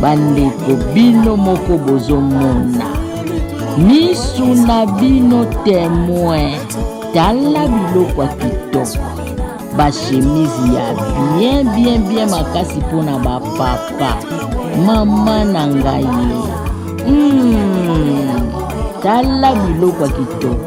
Bandeko bino moko bozomona misu na bino temoin tala biloko ya kitoko bashemise ya bien bien bien makasi mpo na bapapa mama na ngai mm, tala biloko ya kitoko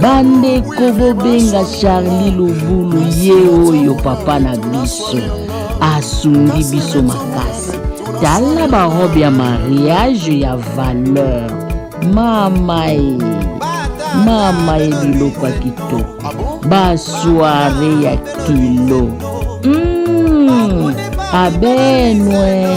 bandeko bobenga charli lobulu ye oyo papa na biso asungi biso makasi tala barobe ya mariage ya valeur mama e mama e biloko ya kitoko basoire ya kilo mm, abenwe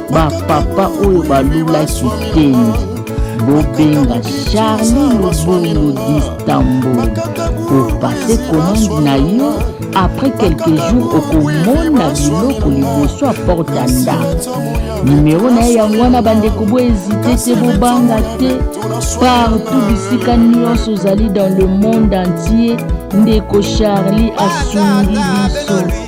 ba papa oyo balulaki kende bobenga charli lobolo distambul opase commande na yo après quelques jours okomona biloko liboso ya porte ya ndako nimero na ye yango wana bandeko boezite te bobanga te partout bisika nyonso ozali dans le monde entier ndeko charli asungi biso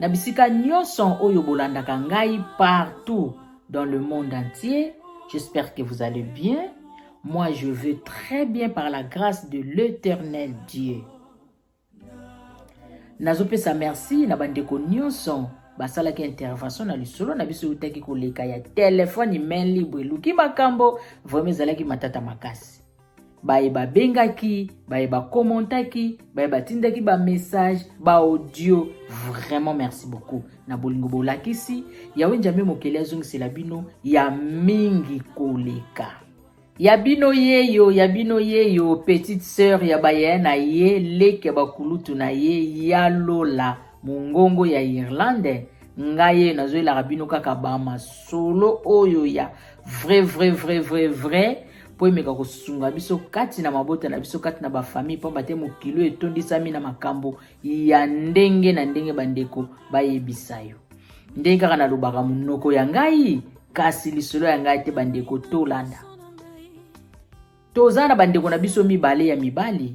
Na bisika nyonso oyo bolandaka ngai partout dans le monde entier, j'espère que vous allez bien. Moi, je veux très bien par la grâce de l'éternel Dieu. nazopesa merci na bandeko nyonso basalaki intervention na lisolo na biso eutaki koleka ya telefone main libre eluki makambo vraimen ezalaki matata makasi baye babengaki baye bakommentaki baye batindaki bamessage baaudio vraiment merci beaucoup na bolingo bolakisi yawe njambe mokeli azongisela bino ya mingi koleka ya bino yeyo ya bino yeyo petite sœur ya baye na ye leki ya bakulutu na ye ya lola Mongongo ya Irlande ngai nazoyelaka bino kaka bamasolo oyo ya vrai vrai vrai vrai vrai mpo emeka kosunga biso kati na mabota na biso kati na bafamille mpamba te mokili oyo etondisami na makambo ya ndenge na ndenge bandeko bayebisa yo ndenge kaka nalobaka monoko ya ngai kasi lisolo ya ngai te bandeko tolanda toza na bandeko na biso mibale ya mibali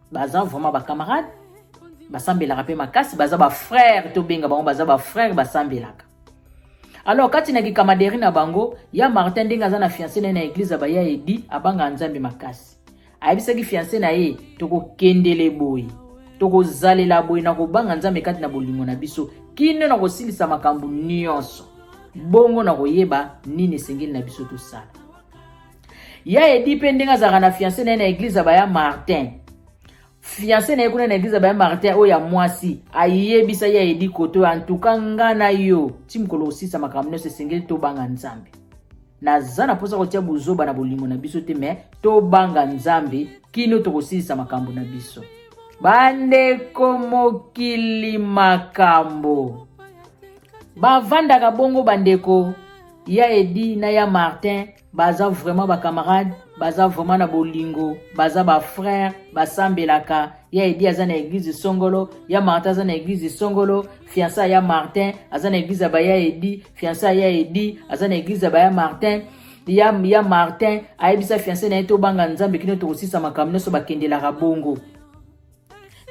baza vraiment ba camarade basambelaka mpe makasi baza ba frère tobenga bango baza ba frère basambelaka alors kati na kikamaderi na bango ya martin ndenge aza na fiance na ye na eglize abaya edi abanga nzambe makasi ayebisaki fiance na ye tokokendele boye tokozalela boye na kobanga nzambe kati na bolingo na biso kino na kosilisa makambo nyonso bongo na koyeba nini esengeli na biso tosala ya edi mpe ndenge azalaka na fiance na ye na eglize ya baya martin fiance na ye kuna na eglize ya baya martin oyo ya mwasi ayebisa ya edi kote oyo antuka nga na yo ti mokolo osisa makambo nyonso esengeli tobanga nzambe naza na mposa kotia bozoba na bolingo na biso te me tobanga nzambe kino tokosilisa makambo na biso bandeko mokili makambo bavandaka bongo bandeko ya edi na ya martin baza vraiment bacamarade baza vraiment na bolingo baza bafrère basambelaka ya edi aza na eglize songolo ya martin aza na eglize songolo fiança ya martin aza na eglize ya baya edi fiança ya edi aza na eglize ya baya martin ya, ya martin ayebisa fianse na ye tobanga nzambe kino tokosisa makambo nyonso bakendelaka bongo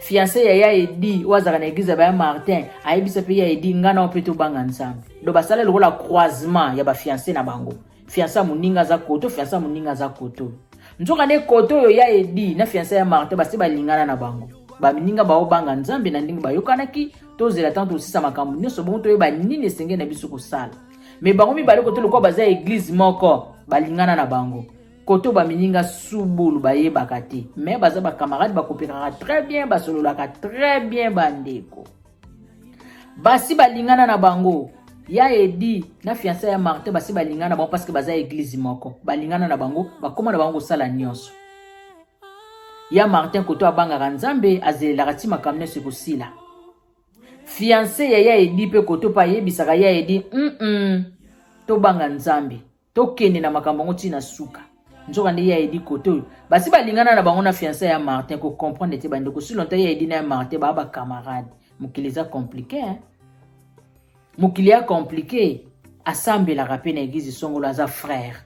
fiancé ya ya edi oyo azalaka na eglize ya baya martin ayebisa mpe ya edi ngai nao mpe tobanga nzambe do basala lokola croisement ya bafiancé na bango fiancé ya moninga aza koto fiancé ya moninga aza koto nzoka nde koto oyo ya edi na fiancé ya martin basi balingana na bango baninga baobanga nzambe na ndenge bayokanaki tozela ntango tosisa makambo nyonso bongo toyeba nini esengeli na biso kosala me bango mibale koto lokola baza eglize moko balingana na bango koto bamininga subulu bayebaka te me baza bacamarade bakopekaka très bien basololaka très bien bandeko basi balingana na bango ya edi na fianse ya martin basi balingana na bango parceke baza eglize moko balingana na bango bakóma na bango kosala nyonso ya martin koto abangaka nzambe azelelaka ti makambo nyonso ekosila fianse ya ya edi mpe koto mpe ayebisaka ya edi mm -mm, tobanga nzambe tokende na makambo yango ntina suka nzoka nde ya edi kote oyo basi balingana na bango na fiansa ya martin kocomprendre te bandeko si lonta ya edi na ya martin baa bacamarade mokili eza komplike hein? mokili ya komplike asambelaka mpe na eglize songolo aza frère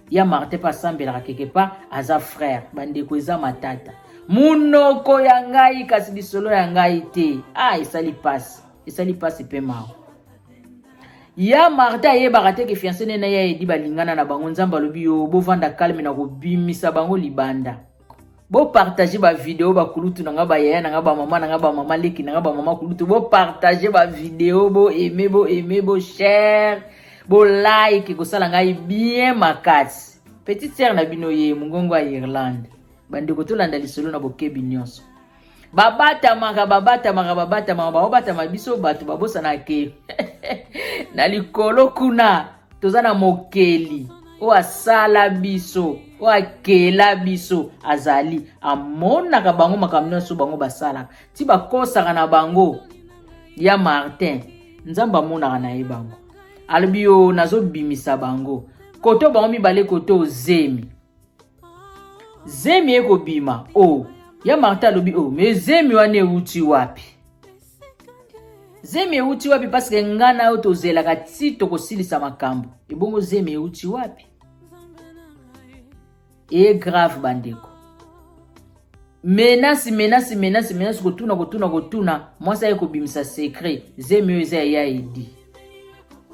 ya martin mpe asambelaka keke part aza frère bandeko eza matata monoko ya ngai kasi lisolo ya ngai te a ah, esali mpasi esali mpasi mpe mawa Ya Martha ayebaka te ke fiancé ne na ya Edi balingana na bango nzambe alobi yo bovanda calme na kobimisa bango libanda bopartage bavideo bakulutu na nga bayaya na nga bamama na nga bamama leki na nga bamama kulutu bopartage bavideo boaime boaime boshare bolike ekosala ngai bien makasi petite sere na bino ye mongongo ya irlande bandeko tolanda lisolo na bokebi nyonso babatamaka babatamaka babatamaka baobatama biso bato babosana ke na likolo kuna toza na mokeli oyo asala biso oyo akela biso azali amonaka bango makambo nyonso bango basalaka ti bakosaka na bango ya martin nzambe amonaka na ye bango alobi yo nazobimisa bango koto bango mibale koto zemi zemi ekobima o oh. ya marta alobi o oh, me zemi wana euti wapi zemi euti wapi paske ngai na yo tozelaka ti tokosilisa makambo ebongo zemi euti wapi eye grave bandeko menasi menasi menasi menasi kotuna kotuna kotuna mwasi aye kobimisa secret zemi oyo eza ya ya edi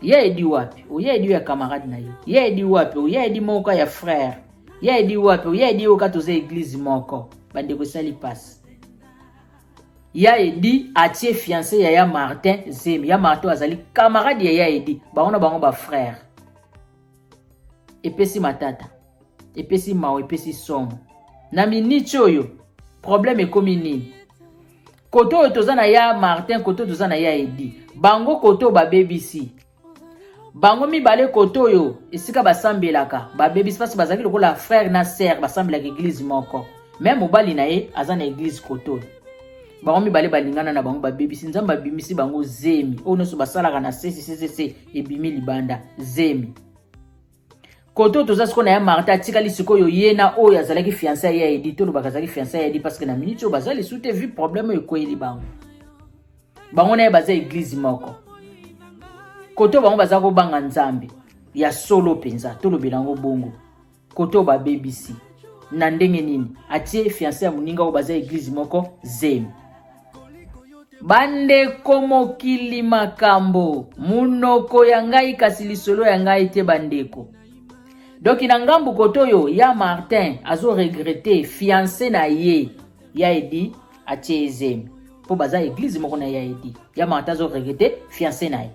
ya edi wapi oya edi oyo ya camarade na ye ya edi wapi oya edi moko ka ya frère ya edi wapi oya edi oyo ka toza eglise moko bandeko esali mpasi ya edi atie fiance ya ya martin zemi ya martin oyo azali camarade ya ya edi bango na bango bafrère epesi matata epesi mawa epesi somo na miniti oyo problème ekomi nini kote oyo toza na ya martin kote oyo toza na ya edi bango kote oyo babebisi bango mibale kote oyo esika basambelaka babebisi mpasi bazalaki lokola frère na sœur basambelaka eglize moko me mobali na ye aza na eglize kote oyo bango mibale balingana na bango babebisi nzambe abimisi bango zemi oyo nyonso basalaka na sesisesese ebimi libanda zemi koto toza sikoyo na ya marta atikali sikoyo ye na oyo azalaki fiansa ya edi tolobaka azalaki fiansa ya edi parce que na minute oyo baza lisu te vu problème oyo ekweyeli bango bango na ye baza eglize moko koto bango baza kobanga nzambe ya solo mpenza tolobela yango bongo Kote oyo ba bebisi. Na ndenge nini? Atie fiancé ya muninga oyo baza eglise moko zemi. Bandeko mokili makambo munoko ya ngai kasi lisolo ya ngai te bandeko. Donc na ngambu kote oyo ya Martin azo regretter fiancé na ye ya Edi atie ezemi. Po baza eglise moko na ya Edi. Ya Martin azo regretter fiancé na ye.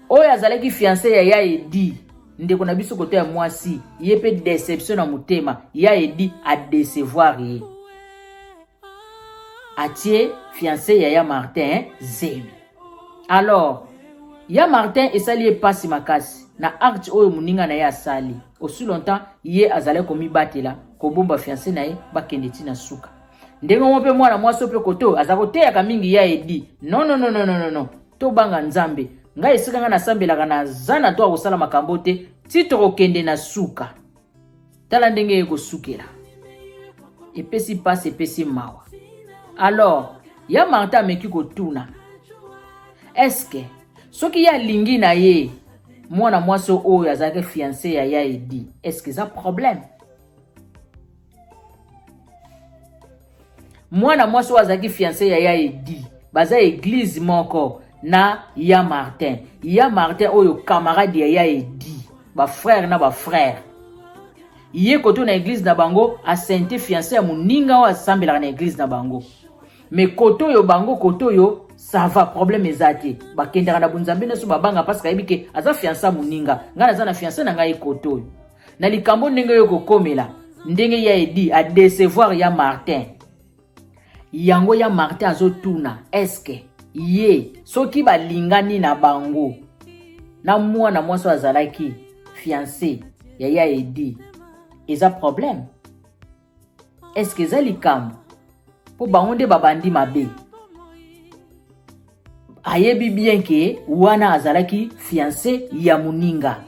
oyo azalaki fiance ya ya edi ndeko na biso kote ya mwasi ye mpe deception na motema ya edi adecevoir ye atie fiance ya ya martin zemi alors ya martin esali ye mpasi makasi na acte oyo moninga na ye asali aussi longtemps ye azalaki komibatela kobomba fiance na ye bakende ntina suka ndenge moko mpe mwana mwasi mpe kote oyo aza koteyaka mingi ya edi nononononono tobanga nzambe ngai esika ngai nasambelaka naza na to akosala makambo te ti tokokende na suka tala ndenge ye kosukela epesi mpasi epesi mawa alors ya marta ameki kotuna eske soki ye alingi na ye mwana mwasi oyo azalaki fianse ya ya edi eske eza problème mwana mwasi oyo azalaki fianse ya ya edi baza eglize moko na ya martin ya martin oyo camarade ya ya edi bafrere na bafrere ye koto na eglize na bango asente fianse ya moninga oyo asambelaka na eglize na bango me koto oyo bango koto oyo sava probleme eza te bakendaka na bonzambe nyonso babanga mpasi kayebi ke aza fianse ya moninga ngai naza na fianse na ngai koto oyo na likambo ndenge oyo kokomela ndenge ya edi a decevoir ya martin yango ya martin azotuna eske ye soki balingani na bango na mwana mwasi oyo azalaki fiance ya ya edi eza problème eske eza likambo mpo bango nde babandi mabe ayebi bien ke wana azalaki fianse ya moninga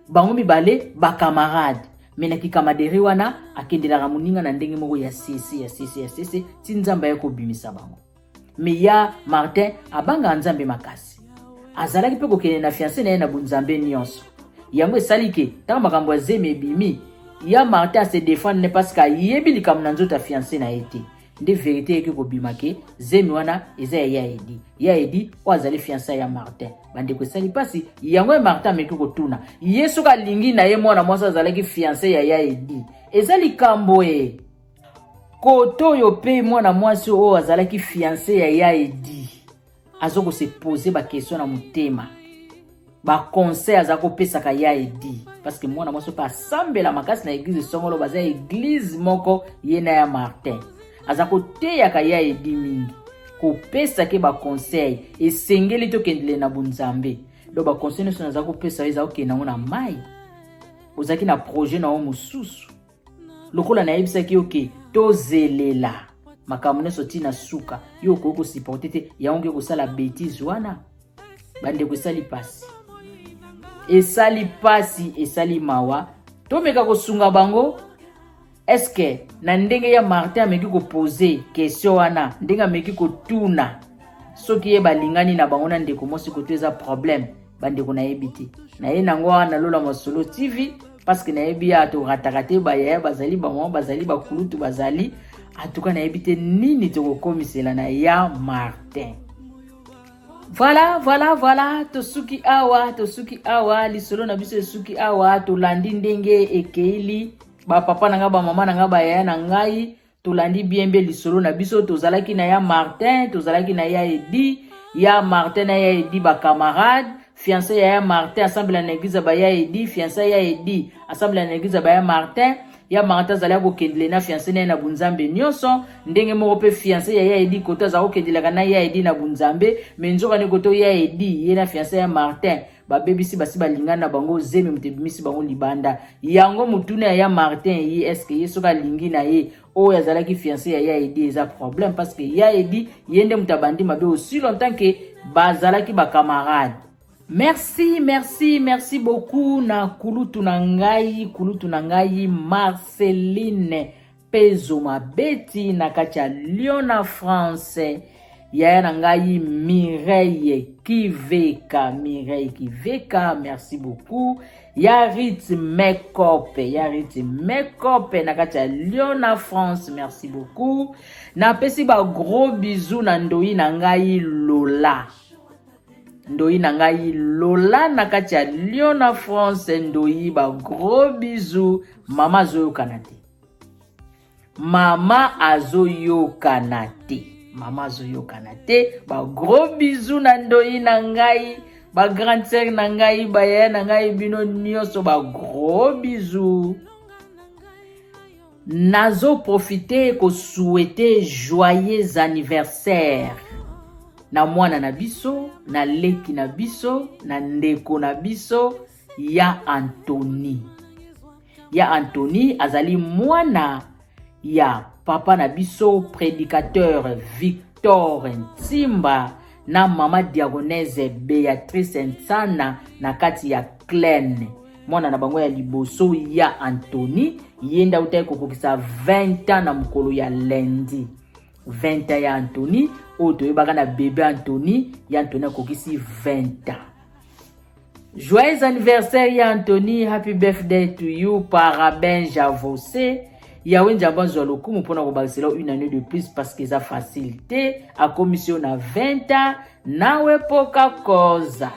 bango mibale bakamarade me na kikamaderi wana akendelaka moninga na ndenge moko ya sese ya sese ya sese ti nzambe aye kobimisa bango Meya Martin abangaka Nzambe makasi. Azalaki mpe kokende na fianse na ye na bonzambe nyonso. Yango esali ke ntango makambo ya zemi ebimi, ya Martin ase defendre ne parce que ayebi likambo na nzoto ya fianse na ye te. Nde verite eyaki kobima ke zemi wana eza ya ya Edi. Ya Edi oyo azali fianse ya Martin. Bandeko esali mpasi, yango ya Martin ameki kotuna ye soki alingi na ye mwana mwasi azalaki fianse ya ya Edi. Eza likambo ee. kote oyo mpe mwana mwasi oyo azalaki fianse ya ya edi aza kose pose bakestion na motema baconseil aza kopesaka ya edi parceke mwana mwasi mpe asambela makasi na eglize songolo baza eglize moko ye na ya martin aza koteyaka ya edi mingi kopesa ke baconseil esengeli tokendele na bonzambe donc baconseil nyonso naza kopesa yo eza kokende yango na mai ozalaki na projet na yo mosusu lokola nayebisaki yo ke tozelela makambo nyonso ti na suka yo okoki kosupporte te yango nge kosala betise wana bandeko esali mpasi esali mpasi esali mawa tomeka kosunga bango eske na ndenge ya martin ameki kopose question wana ndenge ameki kotuna soki ye balingani na bango na ndeko mwasi koto eza problème bandeko nayebi te naye nango wana lola masolo tv parce que nayebi ya torataka te bayaya bazali bamama bazali bakulutu bazali atuka nayebi te nini tokokomisela na ya martin voilà voilà voilà tosuki awa tosuki awa lisolo na biso esuki awa tolandi ndenge ekeili bapapa na ngai bamama na ngai bayaya na ngai tolandi bien mbe lisolo na biso tozalaki na ya martin tozalaki na ya edi ya martin na ya edi bacamarade fiancé ya ya martin asambela na eglize ba ya edi fiancé ya edi asambela na eglize ba ya martin ya martin azali akokendele na fiancé na ye na bunzambe nyonso ndenge moko mpe fiancé ya ya edi koto azali kokendelaka na ya edi na bunzambe me nzokande koto ya edi ye na fiancé ya martin babebisi basi balingani na bango zemi moto ebimisi bango libanda yango motuna ya ya martin ye eske ye soki alingi na ye oyo azalaki fiance ya ya edi eza problème parce que ya edi ye nde moto abandi mabe aussi longtemps ke bazalaki bacamarade merci merci merci beaucoup na kulutu na ngai kulutu na ngai marceline Pezo mabeti na kati ya Lyon na France. Yaya na ngai Mireille Kiveka, Mireille Kiveka, merci beaucoup. Ya Rit Makeup, ya Rit Makeup na kati ya Lyon na France, merci beaucoup. Napesi ba gros bisous na ndoyi na ngai Lola. Ndoyi na ngai Lola na kati ya Lyon na France, ndoyi ba gros bisous. Mama azoyokana te. Mama azoyokana te. Mama azoyokana te. Ba gros bisous na ndoyi na ngai. Ba grande sœur na ngai, ba yaya na ngai bino nioso ba gros bisous. Nazo profiter ko souhaiter joyeux anniversaire na mwana na biso, na leki na biso, na ndeko na biso. ya Antoni. Ya Antoni azali mwana ya papa na biso predicateur Victor Ntimba na mama diagonese Beatrice Nsana na kati ya Klein. Mwana na bango ya liboso ya Antoni ye nde autaki kokokisa 20 ans na mokolo ya lundi. 20 ans ya Antoni oyo toyebaka na bebe Antoni, ya Antoni akokisi 20 ans. Joyeux anniversaire ya Anthony, happy birthday to you, paraben javose. Yawe Nzambe azwa lokumu mpona kobakisela une année de plus parce que eza facile te, akomisi yo na 20 ans, nawe poka koza.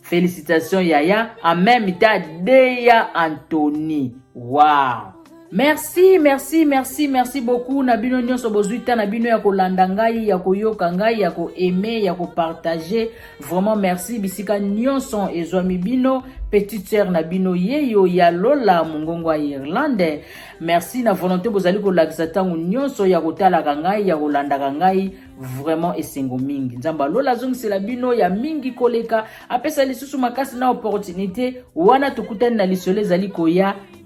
Félicitations yaya, en même temps deya Anthony. Wow! merci merci merci merci beaucoup na bino nyonso bozwi ta na bino ya kolanda ngai ya koyoka ngai ya koaime ya kopartage vraiment merci bisika nyonso ezwami bino petite sœur na bino yeyo ya lola mongongo ya irlande merci na volonté bozali kolakisa ntango nyonso ya kotalaka ngai ya kolandaka ngai vraiment esengo mingi nzambe alola azongisela bino ya mingi koleka apesa lisusu makasi na opportunité wana tokutani na lisolo ezali koya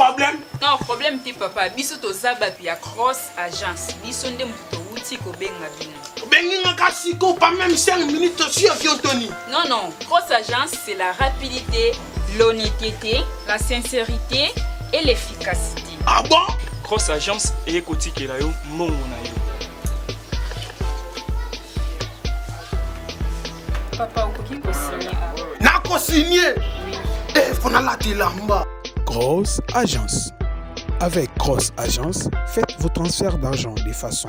problème non problème te papa biso toza bato ya cross agence biso nde moto towuti kobenga bino Bengi nga ka siko pas même 5 minutes sur avion Tony. Non non, grosse agence c'est la rapidité, l'honnêteté, la sincérité et l'efficacité. Ah bon? Grosse agence eye kotikela yo mbongo na yo. Papa okoki kosigne awa. Nakosigne. Eh, faut nalata elamba. Grosse agence. Avec Grosse Agence, faites vos transferts d'argent de façon